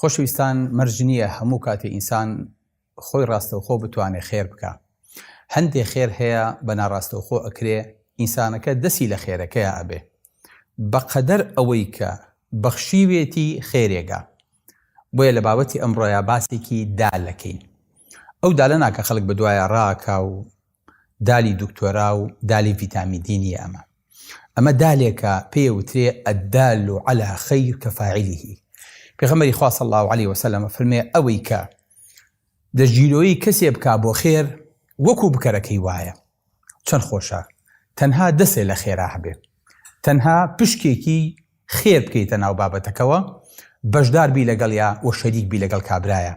خۆشەویستان مەرج نییە هەموو کاتێ ئینسان خۆی ڕاستەوخۆ بتوانێ خێر بکا. هەندێ خێر هەیە بە ناڕاستەوخۆ ئەکرێ، ئینسانەکە دەسی لە خێرەکەیا ئەبێ. بە قەدەر ئەوەی کە بەخشیوێتی خێرێگا. بۆیە لە بابەتی ئەمڕۆیا باسێکی دالەکەین. ئەو دالە ناکا خەڵک بە دوایا ڕاکا و دالی دکتۆرا و دالی ڤیتامی دی نیە ئەمە ئەمە دالێکە پێ وترێ ئەدال و علا خیر کە فاعلیه پێغەمەری خوا صلی الله علیه وسلم فەرمێ ئەوەی کە دەژیرۆیی کەسێ بکا بۆ خێر وەکو بکەرەکەی وایە چەند خۆشە تەنها دەسێ لە خێرا هەبێ تەنها پشکێکی خێر بکەیتە ناو بابەتەکەوە بەشدار بی لەگەڵیا و شەریک بی لەگەڵ کابرایە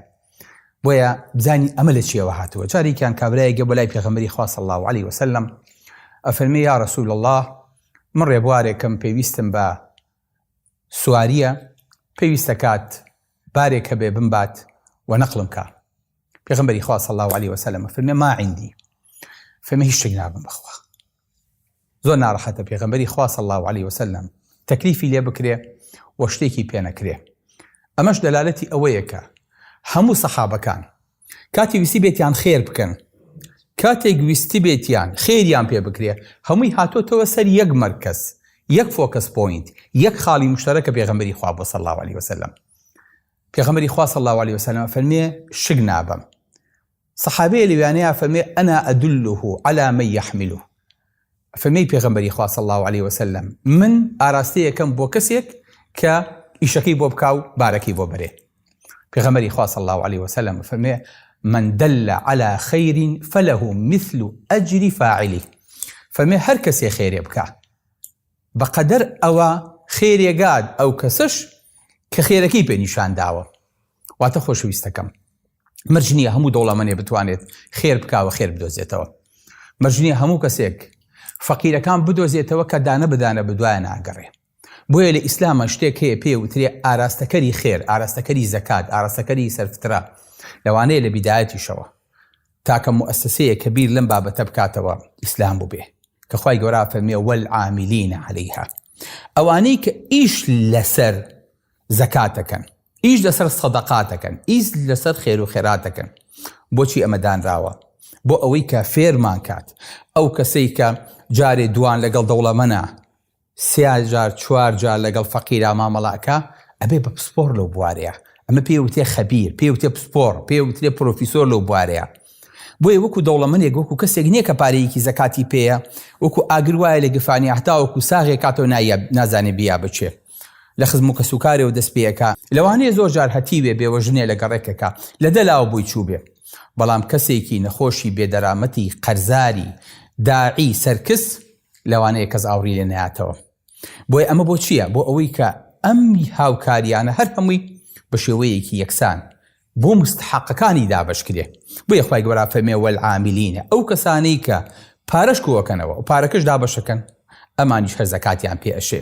بۆیە بزانی ئەمە لە چیەوە هاتووە جارێکیان کابرایە گە بەلای پێغەمەری خوا صلی الله علیه وسلم ئەفەرمێ یا رسول الله من ڕێبوارێکم پێویستم بە سواریە پێویستە کات بارێک هەبێ بمبات و نەقلم کا پێغمبەری خوا صلی الله علیه وسلم فرمێ ما عندي فەرمە هیچ شتێک نابم بەخوا زۆر نارەحەتە پێغەمبەری خوا صلی اللە علیە وسلم تەکلیفی لێ بکرێ و شتێکی پێ نەکرێ ئەمەش دەلالەتی ئەوەیە کە هەموو سەحابەکان کاتی ویستی بێتیان خێر بکەن کاتێک ویستی بێتیان خێریان پێ بکرێ هەمووی هاتۆتەوە سەر یەک مەرکەز یەک فۆکەس پۆینت یەک خاڵی مشتەرەکە پێغەمبەری خوا بۆ صلی اللە علیه وسلم پێغەمبەری خوا صلی اللە علیه وسلم فەرمێ شک نابم سەحابەیە لەویانەی ئەفەرمێ ئەنا ئەدله علی من یحمله فەرمی پێغەمبەری خوا صلی الله علیه وسلم من ئاراستەیەکەم بۆ کەسێک کە ئیشەکەی بۆ بکا و بارەکەی بۆ بەرێ پێغەمبەری خوا صلی الله علیه وسلم فەرمی من دل على خير فله مثل اجر فاعله فەرمی هەر کەسێ خێرێ بکا بەقەدەر ئەوە خێرێگات ئەو کەسەش کە خێرەکەی پێ نیشان داوە واتە خۆشەویستەکەم مەرج نییە هەموو دەوڵەمەنێ بتوانێت خێر بکاوە خێر بدۆزێتەوە مەرج نییە هەموو کەسێک فەقیرەکان بدۆزێتەوە کە دانە بدانە بدوایە ناگەڕێ بۆیە لە ئیسلامە شتێک هەیە پێ وترێ ئاراستەکەری خێر ئاراستەکەری زەکات ئاراستەکەری سەرفترا لەوانەیە لە بیدایەتیشەوە تاکە مؤسسەیە کە بیر لەم بابەتە بکاتەوە ئیسلام بووبێ کە خی گەورا فەرمیێ وەل عامیلینە عليهەیها ئەوانەی کە ئیش لەسەر زەکاتەکەن ئیش لەسەر سەدەقات دەکەن ئیس لەسەر خێرو خێرات دەکەن بۆچی ئەمە دانراوە بۆ ئەوەی کە فێرمان کات ئەو کەسەی کە جارێ دوان لەگەڵ دەوڵەمەنە سیا جار چوار جار لەگەڵ فەقیرا مامەڵاکە ئەبێ بە پسپۆر لەو بوارەیە ئەمە پێ وتێ خەبیر پێ وتێ پسپۆر پێ وترێ پرۆفیسۆر لەو بوارەیە بۆیە وەکو دەوڵەمەنێک وەکو کەسێک نییە کە پارەیەکی زەکاتی پێەیە وەکو ئاگر وایە لە گفانی هەتاوەکو ساغێک کاتەوە نایە نازانێ بیا بچێت لە خزم و کەسوکارێەوە دەست پێ ئەکا لەوانەیە زۆر جار هەتیوێ بێوەژنێ لە گەڕێکەکە لە دە لاوە بۆی چووبێ بەڵام کەسێکی نەخۆشی بێدەرامەتی قەرزاری داعی سەرکس لەوانەیە کەس ئاوڕی لێ نەیاتەوە بۆی ئەمە بۆ چییە بۆ ئەوەی کە ئەمی هاوکاریانە هەر هەمووی بە شێوەیەکی یەکسان بۆ مستحقەکانی دابش کرێ بۆ یخوای گەۆرا فەرمێ وەعامیلینە ئەو کەسانەی کە پارەش کۆەکەنەوە و پارەکەش دابشەکەن ئەمانیش هەر زەکاتیان پێ ئەشێ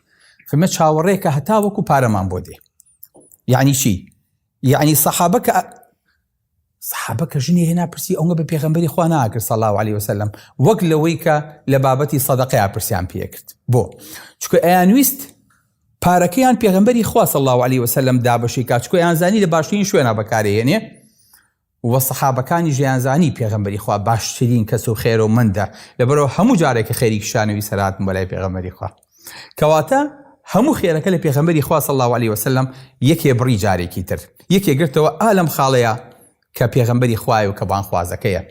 فمە چاوەڕێکە هەتا وەکو پارەمان بۆ دێ یعنی چی یعنی سەحابە کە سەحابە کە ژنی هێنا پرسی ئەوە بە پێغمبەری خوا ناکرد سەڵا علی وسلم وەک لەوەی کە لە بابەتی سەدەقەیە پرسیان پێکرد بۆ چکە ئەیانویست پارەکەیان پێغمبەری خوا سەڵا علی وسلم دابشی کاچکۆیان زانی لە باشترین شوێنە بەکارێنێ وە سەحابەکانیش دەیانزانی پێغەمبەری خوا باشترین کەس و خێرو مەندە لەبەرئەوە هەموو جارێک کە خێری کیشانە ویسەر هاتن بۆلای پێغەمبەری خوا کەواتە هەموو خێرەکە لە پێغەمبەری خوا صلی اللە علیە وسلم یەکێ بڕی جارێکی تر یەکێ گرتەوە ئا لەم خاڵەیە کە پێغەمبەری خوایە و کە بانخوازەکەیە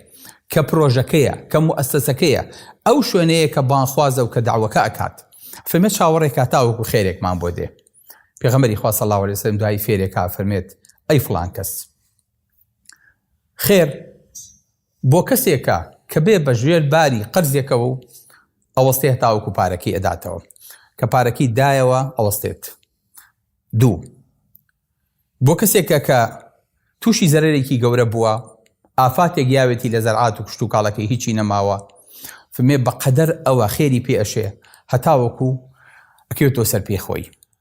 کە پرۆژەکەیە کە موئەسەسەکەیە ئەو شوێنەیە کە بانخوازە و کە داوەکە ئەکات فەرمێت چاوەڕێکا تاوەکو خێرێکمان بۆ دێ پێغەمبەری خوا صلی اللە علیە وسلم دوایی فێرێکا فەرمێت ئەی فڵان کەس خێر بۆ کەسێکە کە بێ بە ژێر باری قەرزێکەوە و ئەوەستێ هەتاوەکو پارەکەی ئەداتەوە کە پارەکەی دایەوە ئەوەستێت دوو بۆ کەسێکە کە تووشی زەرێکی گەورە بووە ئافاتێک یاوێتی لە زەرعات و کشت و کاڵەکەی هیچی نەماوە فمێ بەقەدەر ئەوە خێری پێ ئەشێ هەتاوەکو ئەکەوێتەوە سەر پێ خۆی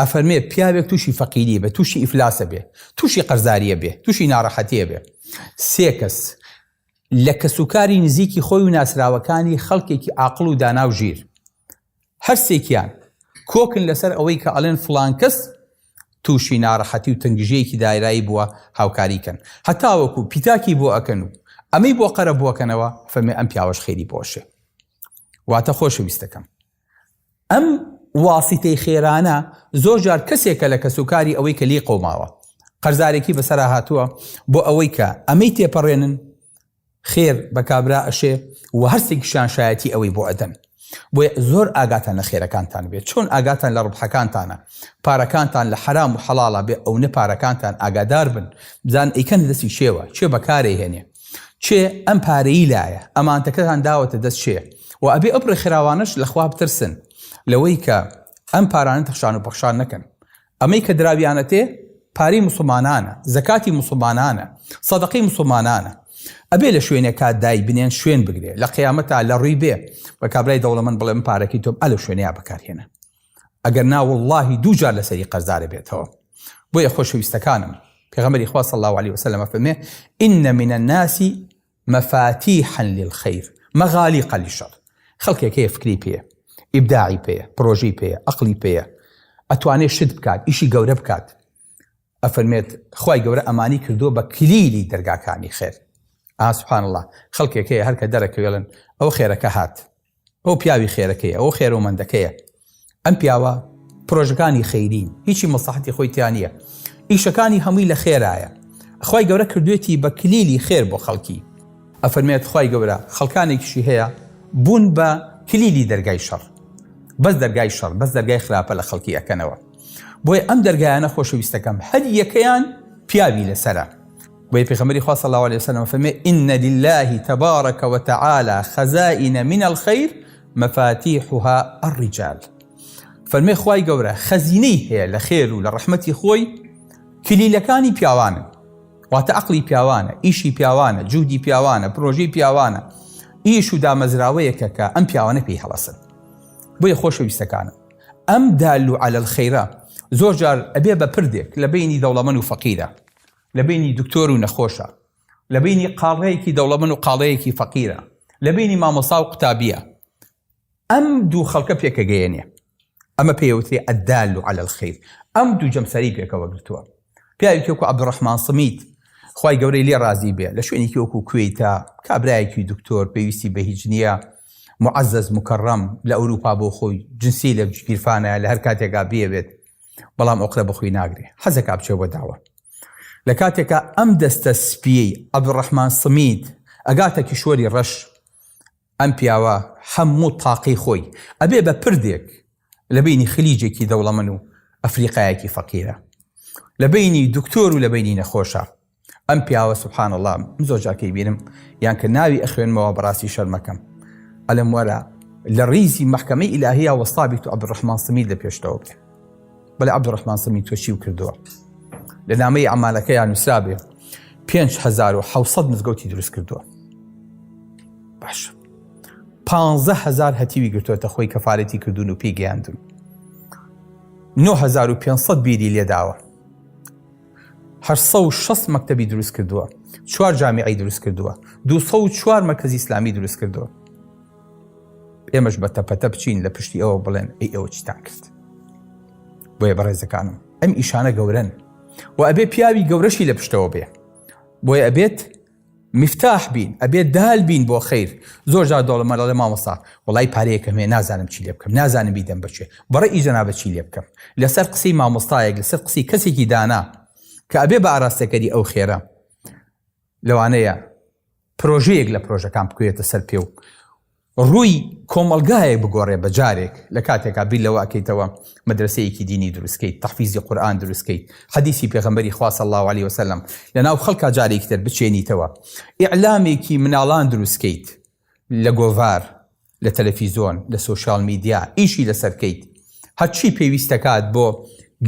ئەفەرمێ پیاوێک تووشی فەقیری بێ تووشی ئیفلاسە بێ تووشی قەرزاریە بێ تووشی ناڕەحەتیە بێ سێ کەس لە کەسوکاری نزیکی خۆی و ناسراوەکانی خەڵکێکی ئاقل و دانا و ژیر هەرسێکیان کۆکن لەسەر ئەوەی کە ئەلێن فلان کەس تووشی ناڕەحەتی و تنگژەیەکی دایرایی بووە هاوکاریکەن هەتاوەکو پیتاکی بۆ ئەکەن و ئەمەی بۆ قەرە بۆکەنەوە فەرمی ئەم پیاوەش خێری بۆشێ واتە خۆشەویستەکەم ئەم واسیتەی خێرانە زۆر جار کەسێکە لە کەسوکاری ئەوەی کە لی قەوماوە قەرزارێکی بەسەرا هاتووە بۆ ئەوەی کە ئەمەی تێپەڕێنن خێر بە کابرا ئەشێ و هەرسێکیشان شایەتی ئەوەی بۆ ئەدەن بۆیە زۆر ئاگاتان لە خێرەکانتان بێت چۆن ئاگاتان لە ڕبحەکانتانە پارەکانتان لە حرام و حەڵا بێ ئەو نە پارەکانتان ئاگادار بن بزان ئەیکەن دەستی شێوە چێ بەکارێ هێنێ کێ ئەم پارەیی لایە ئەمانتەکەتان داوەتە دەست کێ و ئەبێ ئەو ڕێکخراوانەش لەخوا بترسن لەوەی کە ئەم پارانە تەخشان و پەخشان نەکەن ئەمەی کە دراویانەتێ پارەی مسلمانانە زەکاتی مسلمانانە سەدەقەی مسلمانانە ئەبێ لە شوێنێکا دای بنێن شوێن بگرێ لە قیامەتا لە ڕووی بێ بە کابرای دەوڵەمەند بڵێم پارەکەی تۆم ئە لە شوێنەیە بەکارهێنە ئەگەر نا وەڵڵاهی دوو جار لەسەری قەرزار ئەبێتەوە بۆیە خۆشەویستەکانم پێغەمبەری خوا صلی الله علیه وسلم ئەفەرمێ ان من الناس مفاتیحا للخیر مغالیقا للشر خەڵکێک هەیە فکری پێ ئیبداعی پێ پرۆژەی پێ ئەقلی پێە ئەتوانێت شت بکات ئیشی گەورە بکات ئەفەرمێت خوای گەورە ئەمانی کردووە بە کلیلی دەرگاکانی خێر ئا سبحان اللە خەڵکێک هەیە هەر کە دەرەکەوێڵن ئەوە خێرەکە هات ئەو پیاوی خێرەکەیە ئەو خێرۆمەندەکەیە ئەم پیاوە پرۆژەکانی خەیرین هیچی مەسەحەتی خۆی تیانە ئیشەکانی هەمووی لە خێرایە خی گەورە کردوێتی بە کلیلی خێر بۆ خەڵکی ئەفەرمێت خی گەورە خەڵکانێکیشی هەیە بوون بە کلیلی دەرگای شەڕ بەس دەرگای شەڕ بەس دەرگای خراپە لە خەڵکی ئەەکەنەوە بۆیە ئەم دەرگایانە خۆشەویستەکەم هەر یەکەیان پیاوی لەسرە بۆی پێخەمەری خوا صلی الله عليه وسلم فەرمێ ان لله تبارك وتعالى خزائن من الخير مفاتيحها الرجال فەرمێ خوای گەورە خەزینەی هەیە لە خێر و لە ڕەحمەتی خۆی کلیلەکانی پیاوانن واتە عقلی پیاوانە ئیشی پیاوانە جوودی پیاوانە پرۆژی پیاوانە ئیش و دامەزراوەیەکە کە ئەم پیاوانە پێی هەڵەسن بۆیە خۆشەویستەکانم ئەم دال و عەلەل خەیرە زۆر جار ئەبێ بە پردێک لە بەینی دەوڵەمەن و فەقیرە، لە بەینی دکتۆر و نەخۆشە، لە بەینی قاڵەیەکی دەوڵەمەن و قاڵەیەکی فەقیرە، لە بەینی مامۆستا و قوتابیە ئەم دوو خەڵکە پێکەگەیەنێ. ئەمە پێی ئەوترێ الدال علی الخیر. ئەم دوو جەمسەری پێکەوە گرتووە. پیاوێکی وەکو عەبدولڕەحمان سمیت خوای گەورەی لێ ڕازی بێ لە شوێنێکی وەکو کوێیتا کابرایەکی دکتۆر پێویستی بە هیچ نییە معزز مکەڕەم لە ئەوروپا بۆ خۆی جنسی لە گیرفانە لە هەر کاتێکا بێوێت بەڵام ئۆقرە بەخۆی ناگرێ حەزەکە بچێ بە داوە لە کاتێکا ئەم دەستە سپیەی عەبدولڕەحمان سمیت ئەگاتە کیشوەری ڕەش ئەم پیاوە هەموو تاقی خۆی ئەبێ بە پردێک لە بەینی خلیجێکی دەوڵەمەن و ئەفریقایەکی فەقیرە لە بەینی دکتۆر و لە بەینی نەخۆشە ئەم پیاوە سبحان اللە من زۆر جارکەی بینم یان کە ناوی ئەخوێنمەوە بەڕاستی شەرمەکەم ئەلم وەرە لە ڕیزی مەحکەمەی ئیلاهیە وەستابیت و عەبدولڕەحمان سمید لە پێشتەوە بێ. بەلێ عەبدولڕەحمان سەمی تۆ چیو کردووە لە نامەی ئەمالەکەیان نووسرابێ 5600 مزگەوتی دروست کردووە باش 15هزار هەتیوی گرتوێتە خۆی کەفاەتی کردوون و پێی گەیاندون 9500 بیری لێداوە 6 مەکتتەبی دروست کردووە چوار جامیعی دروست کردووە 24 مەکەزی ئسلامی دروست کردووە ئێمەش بە تەپەتە بچین لە پشتی ئەوە بڵێن ئەی ئەوە چتان کرد بۆیە بەڕێزەکانم ئەم ئیشانە گەورن و ئەبێ پیاوی گەورەشی لە پشتەوە بێ بۆیە ئەبێت مفتاح بین ئەبێت دال بین بۆ خیر زۆر جار دەڵمە لەڵێ مامۆستا وڵی پارەیەکەم هەیە نازانم چی لێ بکەم نازانم بیدەم بچێ بڕە ئیجنا بە چی لێ بکەم لەسەر قسەی مامۆستایەک لەسەر قسەی کەسێکی دانا کە ئەبێ بە ئاراستەکەری ئەو خێرە لەوانەیە پرۆژەیەک لە پرۆژەکان بکوێتە سەر پێ و ڕووی کۆمەلگایەک بگۆڕێ بە جارێک لە کاتێکا بیر لەوە ئەکەیتەوە مەدرسەیەکی دینی دروستکەیت تەحفیزی قورئان دروستکەیت حەدیسی پێغەمبەری خوا صلی الله علیه وسلم لەناو خەڵکا جارێکی تر بچێنیتەوە ئیعلامێکی مناڵان دروستکەیت لە گۆڤار، لە تەلەفیزۆن، لە سۆشیال میدیا ئیشی لەسەر کەیت، هەرچی پێویست دەکات بۆ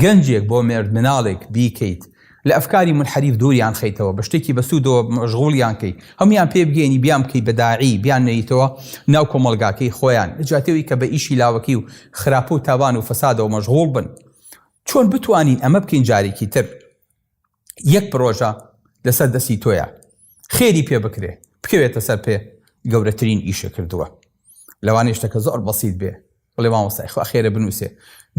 گەنجێک، بۆ مێردمناڵێک بیکەیت، لە ئەفکاری مونحەریف دووریان خەیتەوە، بە شتێکی بەسوودەوە مەشغوڵیان کەی، هەموویان پێ بگەیەنی بیان بکەی بە داعی، بیان نێیتەوە ناو کۆمەڵگاکەی خۆیان، لە جیاتی ئەوەی کە بە ئیشی لاوەکی و خراپە و تاوان و فەسادەوە مەشغوڵ بن، چۆن بتوانین ئەمە بکەین جارێکی تر؟ یەک پرۆژە لەسەر دەستی تۆیە خێری پێ بکرێ بکەوێتە سەر پێ گەورەترین ئیشە کردووە لەوانەیە شتەکە زۆر بەسییت بێ بڵێ مامۆستای خوا خێرە بنووسێ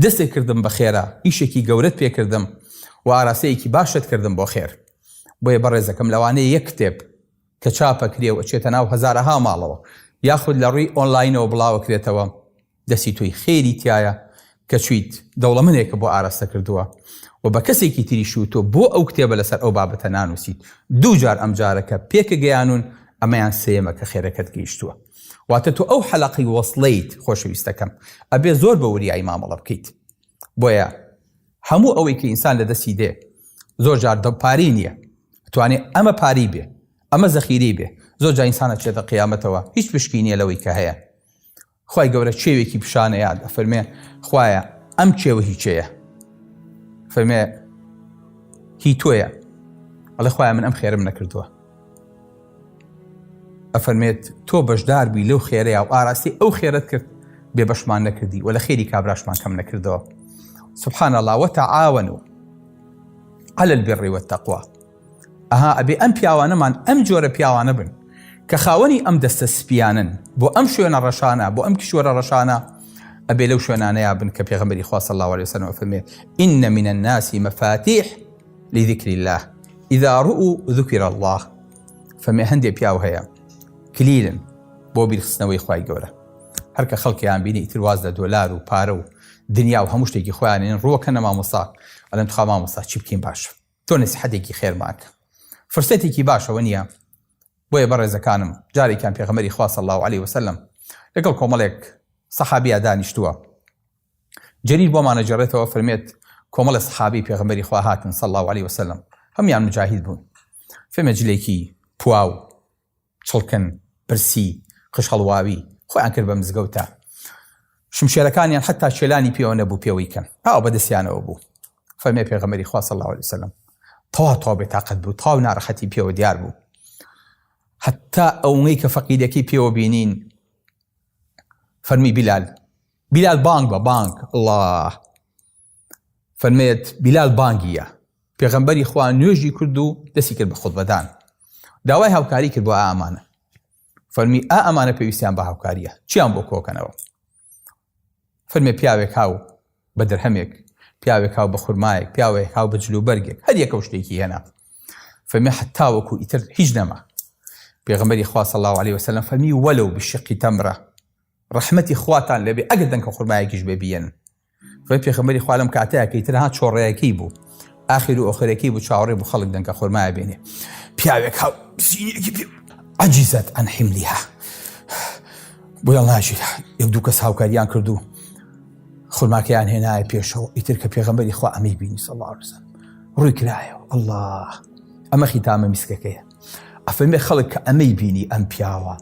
دەستێک کردم بە خێرا ئیشێکی گەورەت پێکردم و ئاراستەیەکی باشت کردم بۆ خێر بۆیە بەڕێزەکەم لەوانەیە یەک کتێب کە چاپە کرێ و ئەچێتە ناو هەزارەها ماڵەوە یاخود لە ڕووی ئۆنلاینەوە بڵاوە کرێتەوە دەستی تۆی خێری تیایە کە چویت دەوڵەمەنێکە بۆ ئارەستە کردووە و بە کەسێکی تریش و تۆ بۆ ئەو کتێبە لەسەر ئەو بابەتە نانووسیت دوو جار ئەم جارەکە پێکە گەیانوون ئەمەیان سێیەمە کە خێرەکەت گەیشتووە واتە تۆ ئەو حەلەقی وەسڵیت خۆشەویستەکەم ئەبێ زۆر بە وریایی مامەڵە بکەیت بۆیە هەموو ئەوەی کە ئینسان لە دەستی دێ زۆر جار دە پاری نییە توانێ ئەمە پاری بێ ئەمە زەخیری بێ زۆر جا ئینسانە چێتە قیامەتەوە هیچ پشکی نییە لەوەی کە هەیە خوای گەورە چێوێکی پیشانە یاد ئەفەرمێ خوایە ئەم چێوە هی چێە فەرمێ هی تۆیە ئەڵێ خوای من ئەم خێرم نەکردووە ئەفەرمێت تۆ بەشدار بووی لەو خێرەیە و ئاراستی ئەو خێرت کرد بێ بەشمان نەکردی و لە خێری کابراشمان کەم نەکردەوە سبحان الله وتعاون و على البر والتقوى ئەها ئەبێ ئەم پیاوانەمان ئەم جۆرە پیاوانە بن کە خاوەنی ئەم دەستە سپیانن بۆ ئەم شوێنە ڕەشانە بۆ ئەم کیشوەرە ڕەشانە ئەبێ لەو شوێنانەیە بن کە پێغمبەری خواست الله عليه وسلم فەرمێ إن من الناس مفاتيح لذكر الله إذا رؤوا ذكر الله فەرمێ هەندێک پیاو هەیە کلیلن بۆ بیرخستنەوەی خی گەورە هەرکە خەڵکیان بینی ئیتر واز لە دۆلار و پارە و دنیا و هەموو شتێکی خۆیانێن ڕووەکە نەمامۆسا ئەلەن تخوا مامۆسا چی بکەین باشە تۆ نسیحەتێکی خێرمان کە فرسەتێکی باش ئەوە نییە بۆیە بەڕێزەکانم جارێکیان پێغەمەری خوا صلی الله علیه وسلم لەگەڵ کۆمەڵێک سەحابیا دانیشتووە جەریر بۆمانە جێڕێتەوە فرمێت کۆمەڵە سەحابی پێغەمەری خوا هاتن صلی الله علیه وسلم هەمیان مجاهید بوون فێمە جلێکی پواو چڵکن، پرسی، قژهەڵواوی، خۆیان کرد بە مزگەوتە. شمشێرەکانیان حەتا چێلانی پێوە نەبوو پێوەی کەن. ئاو بە دەستیانەوە بوو. فەرمی پێغەمبەری خوا صلی الله علیه وسلم تەوا تەوا بێتاقەت بوو، تەواو ناڕەحەتی پێوە دیار بوو. حەتا ئەوەی کە فەقیرەکەی پێوە بینین فەرمی بیلال بیلال بانگ بە بانگ الله فەرمێت بیلال بانگیە پێغەمبەری خوا نوێژی کرد و دەستی کرد بە خودبەدان داوای هاوکاری کرد بۆ ئامانە فەرمی ئا ئەمانە پێویستیان بە هاوکاریە چیان بۆ کۆکەنەوە فەرمێ پیاوێک هاو بە درهەمێک پیاوێک هاو بە خورمایەک پیاوێک هاو بە جلوبەرگێک هەر یەکە شتێکی هێنا فەرمی حتاوەکو ئیتر هیچ نەما پێغمبەری خوا صلی الله عليه وسلم فەرمی وەلو بشقی تەمرە ڕحمەتی خواتان لەبێ ئەگەر دەنکە خورمایەکیش بێبیێن خۆی پێخەمەری خوا لەم کاتەیەکەی ترها چۆڕەیەکی بوو ئاخیر و ئۆخرەکەی بوو چاوەڕێ بوو خەڵک دەنکە خۆرمایە بێنێ پیاوێک هاو عجیزت ئەن حیملیها بۆ ناژی یەک دوو کەس هاوکاریان کردو خورماکەیان هێنایە پێشەوە ئیتر کە پێغەمبەری خوا ئەمەی بینی سەڵارزم ڕووی کرایەوە الله ئەمە خیتامە میسکەکەیە ئەفەرمێ خەڵک کە ئەمەی بینی ئەم پیاوە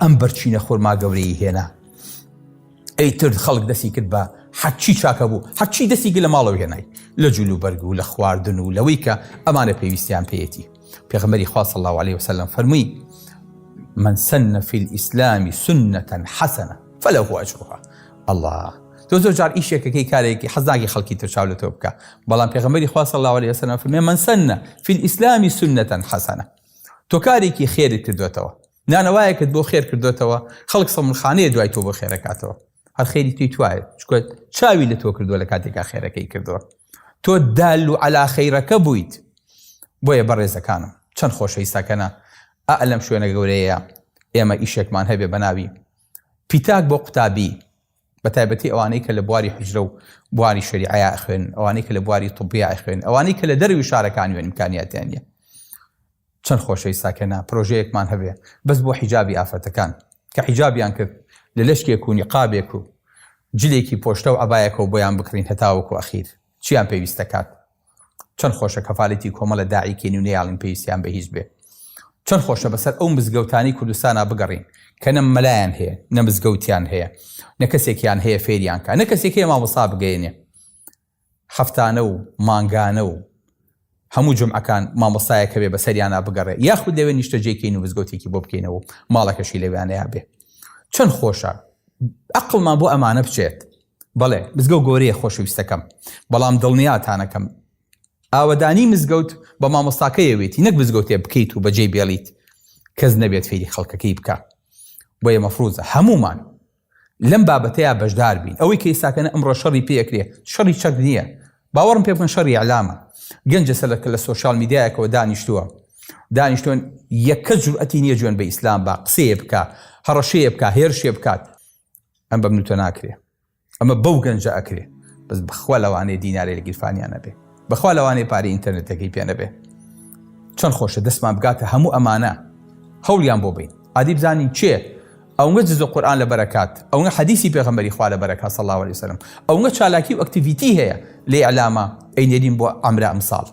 ئەم بەرچینە خۆرما گەورەی هێنا ئەی ترد خەڵک دەستی کرد بە حەچی چاکە بوو هەرچی دەستی گە لە ماڵەوە هێنای لە جوول و بەرگ و لە خواردن و لەوەی کە ئەمانە پێویستیان پێەتی پێغمەری خواست الله عليه وسلم فەرمووی من سنە فی ئیسلامی سنەتەن حەسەنە فەلە هو ئەجرها الله تۆ زۆر جار ئیشێکەکەی کارێکی حەزناگی خەڵکی ترچاو لە تۆ بکە بەڵام پێغمەری خواست الله عليه وسلم فەرمێ من سنە فی ئیسلامی سنەتەن حەسەنە تۆ کارێکی خێرت کردوێتەوە نانەوایەکت بۆ خێر کردۆتەوە خەڵک سەمونخانەیە دوای تۆ بۆ خێرەکاتەوە هەر خێری توی توایە چکە چاوی لە تۆ کردووە لە کاتێکا خێرەکەی کردووە تۆ دال و علا خەیرەکە بوویت بۆیە بەڕێزەکانم چەند خۆشەویستەکەە ئا لەم شوێنە گەورەیە ئێمە ئیشێکمان هەبێ بەناوی پیتاک بۆ قوتابی بە تایبەتی ئەوانەی کە لە بواری حوجرە و بواری شەریعەیا ئەخوێنن، ئەوانەی کە لە بواری طبیا ئەخوێنن، ئەوانەی کە لە دەرەوی شارەکانی و ئیمکانیاتیان نییە. چەند خۆشە ئیستا کە نا پرۆژەیەکمان هەبێ بەس بۆ حیجابی ئافرەتەکان کە حیجابیان کرد لە لەشکێک و نیقابێک و جلێکی پۆشتە و عەبایەکەوە بۆیان بکڕین هەتاوەکو ئەخیر. چیان پێویست دەکات چەند خۆشە کەفالەتی کۆمەڵە داعی کەین و نەیاڵین پێویستیان بە هیچ بێ چەند خۆشە بەسەر ئەو مزگەوتانی کوردستانا بگەڕین کە نە مەلایان هەیە نە مزگەوتیان هەیە نە کەسێکیان هەیە فێریان کە نە کەسێک هەیە مامۆستا بگەێنێ هەفتانە و مانگانە و هەموو جومعەکان مامۆستایەک هەبێ بەسەریانا بگەڕێ یاخود لەوێ نیشتەجێی کەین و مزگەوتێکی بۆ بکەینەوە و ماڵەکەشی لەوێانەیا بێ چەند خۆشە ئەقڵمان بۆ ئەمانە بچێت بەڵێ مزگەو گۆرەیە خۆشەویستەکەم بەڵام دڵنیاتانەکەم ئاوەدانی مزگەوت بە مامۆستاکەیەوێتی نەک مزگەوتێ بکەیت و بەجێی بێڵیت کەس نەبێت فێری خەڵکەکەی بکە بۆیە مەفروزە هەمومان لەم بابەتەیا بەشدار بین ئەوەی کە ئیستا کەنە ئەمڕۆ شەڕی پێ ئەکرێ شەڕی چەک نیە باوەڕم پێ بکەن شەڕی ئیعلامە گەنجە سەلە کە لە سۆشیال میدیایەکەوە دانیشتووە دانیشتوون یەکە جورئەتی نیە جوێن بە ئیسلام با قسەیە بکا هەڕەشەیە بکا هێرشێ بکات ئەم بەم نوتە ناکرێ ئەمە بەو گەنجە ئەکرێ بەس بخوا لەوانەیە دینارێ لە گیرفانیانە بێ بەخوا لەوانەیە پارەی ئینتەرنێتەکەی پێ نەبێ چەند خۆشە دەستمان بگاتە هەموو ئەمانە هەوڵیان بۆ بین عادی بزانین چێ ئەونگە جز و قورئان لەبەر ئەکات ئەونگە حەدیسی پێغەمبەری خوا لەبەر ئەکات صلی اللە علیە وسلم ئەونگە چالاکی و ئەکتیڤیتی هەیە لە ئیعلامە ئەینێرین بۆ ئەمرە ئەمساڵ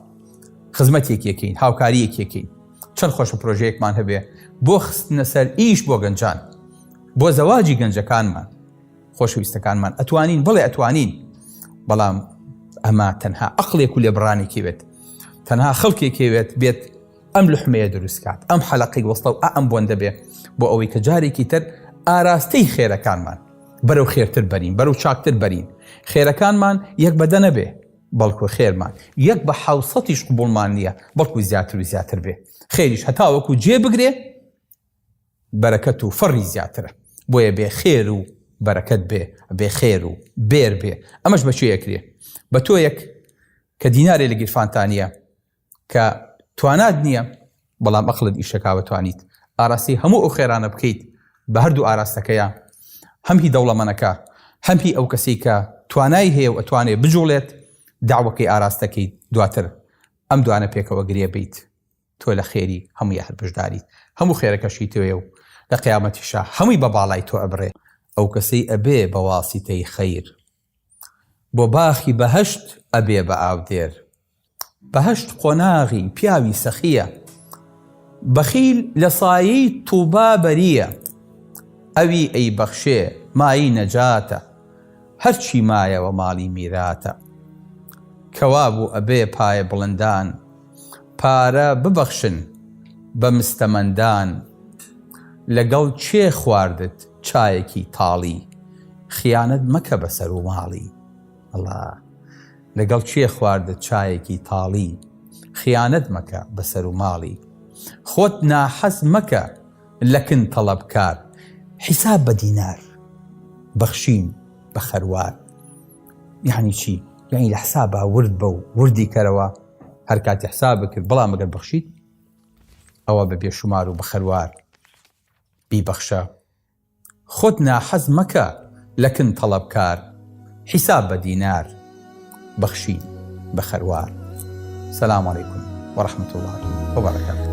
خزمەتێک یەکەین هاوکاریەک یەکەین چەند خۆشە پرۆژەیەکمان هەبێ بۆ خستنە سەر ئیش بۆ گەنجان بۆ زەواجی گەنجەکانمان خۆشەویستەکانمان ئەتوانین بڵێ ئەتوانین بەڵام ئەمە تەنها ئەقلێک و لێبڕانێکی بێت تەنها خەڵکێکێوێت بێت ئەم لحمەیە دروست کات ئەم حەلقەی وەستە و ئەم بۆن دەبێ بۆ ئەوەی کە جارێکی تر ئاراستەی خێرەکانمان بەرەو خێرتر بەرین بەرەو چاکتر بەرین خێرەکانمان یەک بەدە نەبێ بەڵکو خێرمان یەک بە حوسەتیش قوبڵمان نییە بەڵکو زیاتر و زیاتر بێ خێریش هەتاوەکو جێ بگرێ بەرەکەت و فەڕی زیاترە بۆیە بێ خێر و بەرەکەت بێ بێ خێر و بێر بێ ئەمەش بەچێ یەکرێ بە تۆ یەک کە دینارێ لە گیرفانتانە کە توانات نییە بەڵام ئەقڵت ئیشەکاوە توانیت ئاراستەی هەموو ئەو خێرانە بکەیت بە هەردوو ئاراستەکەیە هەم هی دەوڵەمەنەکە هەم هی ئەو کەسەی کە توانای هەیە و ئەتوانێت بجوڵێت داوەکەی ئاراستەکەیت دواتر ئەم دوانە پێکەوە گرێ بیت تۆ لە خێری هەمووی هەر بشداریت هەموو خێرەکەشی تۆێ و لە قیامەتیشا هەمووی بە باڵای تۆ ئەبرێ ئەو کەسەی ئەبێ بە واسیتەی خەیر بۆ باخی بەهەشت ئەبێ بە ئاودێر. بەهەشت قۆناغی پیاوی سەخییە. بەخیل لە سایەی تووبا بەرییە. ئەوی ئەیبەخشێ مایەی نەجاتە. هەرچی مایەوە ماڵی میراتە. کەوابوو ئەبێ پایەبڵندان پارە ببەخشن بە مستەمەندان. لەگەڵ کێ خواردت چایەکی تاڵی خیانەت مەکە بە سەر و ماڵی ئەڵا لەگەڵ کێ خواردت چایەکی تاڵی خیانەت مەکە بە سەر و ماڵی خۆت ناحەز مەکە لە کن تەڵەبکار حیساب بە دینار بەخشین بە خەروار یعنی چی یعنی لە حسابا ورد بە و وردی کەرەوە هەر کاتی حساب بکرد بەڵام مەگەر بەخشیت ئەوە بە بێشومار و بە خەروار بیبەخشە خۆت ناحەز مەکە لە کن تەڵەبکار حیساب بە دینار بەخشی بە خەروار سلام علیکم ورحمة الله وبرکاته